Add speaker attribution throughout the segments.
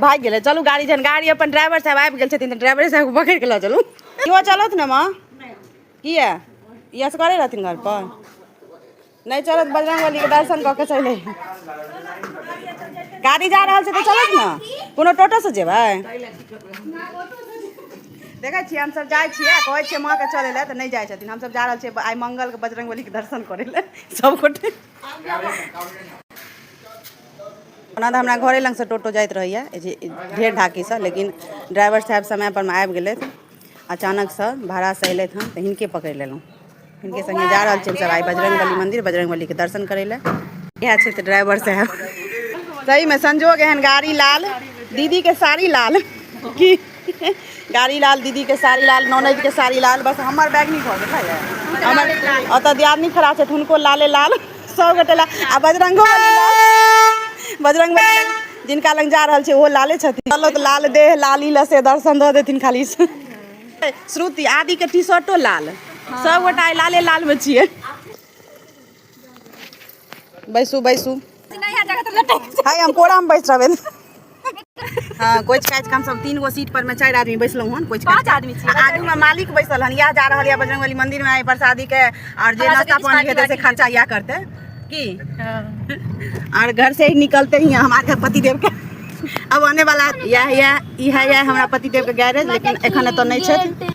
Speaker 1: भागि गेलै चलू गाड़ी जहन गाड़ी अपन ड्राइवर साहब आबि गेल छथिन तऽ ड्राइवरे साहबके पकड़ि कऽ लऽ चलू इहो चलत ने माँ किया ई असगरे रहथिन घर पर नहि चलत बजरंग बली के दर्शन कऽ के चलि अइहे। गाड़ी जा रहल छै तऽ चलत ने कोनो टोटो से जेबै देखै छियै हमसभ जाइ छियै आ कहै छियै माँके चलै लए तऽ नहि जाइ छथिन हमसभ जा रहल छियै आइ मंगलके बजरंग बलीके दर्शन करै लए सभगोटे ओना तऽ हमरा घरे लगसँ टोटो जाइत रहैए ढेर ढाकीसँ लेकिन ड्राइवर साहेब समयपरमे आबि गेलथि अचानकसँ भाड़ासँ अयलथि हँ तऽ हिनके पकड़ि लेलहुँ हिनके सङ्गे जा रहल छियनि सभ आइ बजरङ्ग बली मन्दिर बजरङ्ग बलीके दर्शन करै लए इएह छथि ड्राइवर साहेब सहीमे संजोग एहन गाड़ी लाल दीदीके साड़ी लाल की गाड़ी लाल दीदी के साड़ी लाल ननद के साड़ी लाल बस हमर बैग नहीं भऽ गेल हमर ओतऽ दियादनी खड़ा छथि हुनको लाले लाल सब गोटे लाल आ बजरंगो बली लाल बजरंग बली लग जिनका लग जा रहल छै ओहो लाले छथिन चलो तऽ लाल देह लाली लऽ से दर्शन दऽ देथिन खाली श्रुति आदि के टी शर्टो लाल सब गोटा आइ लाले लाल में छियै बैसू बैसू हाय हम कोड़ा में बैस रहबे हाँ कोच काटि कऽ हमसभ तीन गो सीट पर में चारि आदमी बैसलहुँ हन कोच पाँच आदमी छी आगू में मालिक बैसल हन इएह जा रहल यऽ बजरंगबली मंदिर में आइ प्रसादी के और जे नाश्ता पानी हेतै से खर्चा इएह करतै की और घर से ही निकलते ही हमारे पतिदेव के अब आने वाला यह यह इह यह हमरा पतिदेव के गैरेज लेकिन एखन एतऽ नहि छथि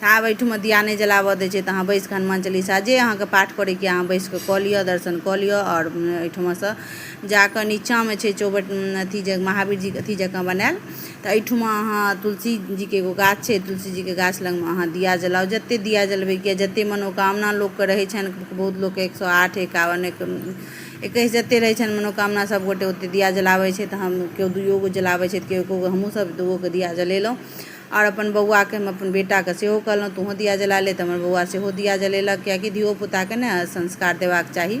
Speaker 1: तऽ आब एहिठमा दिया नहि जलाबऽ दै छै तऽ अहाँ बैस कऽ हनुमान चालीसा जे अहाँके पाठ करैके अहाँ बैस कऽ कऽ लिअ दर्शन कऽ लिअ आओर एहिठमासँ जा कऽ नीचाँमे छै चौबट अथी जे महावीर जी अथी जकाँ बनायल तऽ एहिठमा अहाँ तुलसी जीके एगो गाछ छै तुलसी जीके गाछ लगमे अहाँ दिया जलाउ जतेक दिया जलबैके जतेक मनोकामना लोकके रहै छनि बहुत लोकके एक सए आठ एकावन एकैस जतेक रहै छनि मनोकामना सभगोटे ओतेक दिया जलाबै छै तऽ हम केओ दुइओ गो जलाबै छै तऽ केओ एक्को गो हमहूँसभ दूओ गो दिया जलेलहुँ आओर अपन बौआके हम अपन बेटाके सेहो कहलहुँ तोहूँ दिया जला ले तऽ हमर बौआ सेहो दिया जलेलक किएकि धियो पुताके ने संस्कार देबाक चाही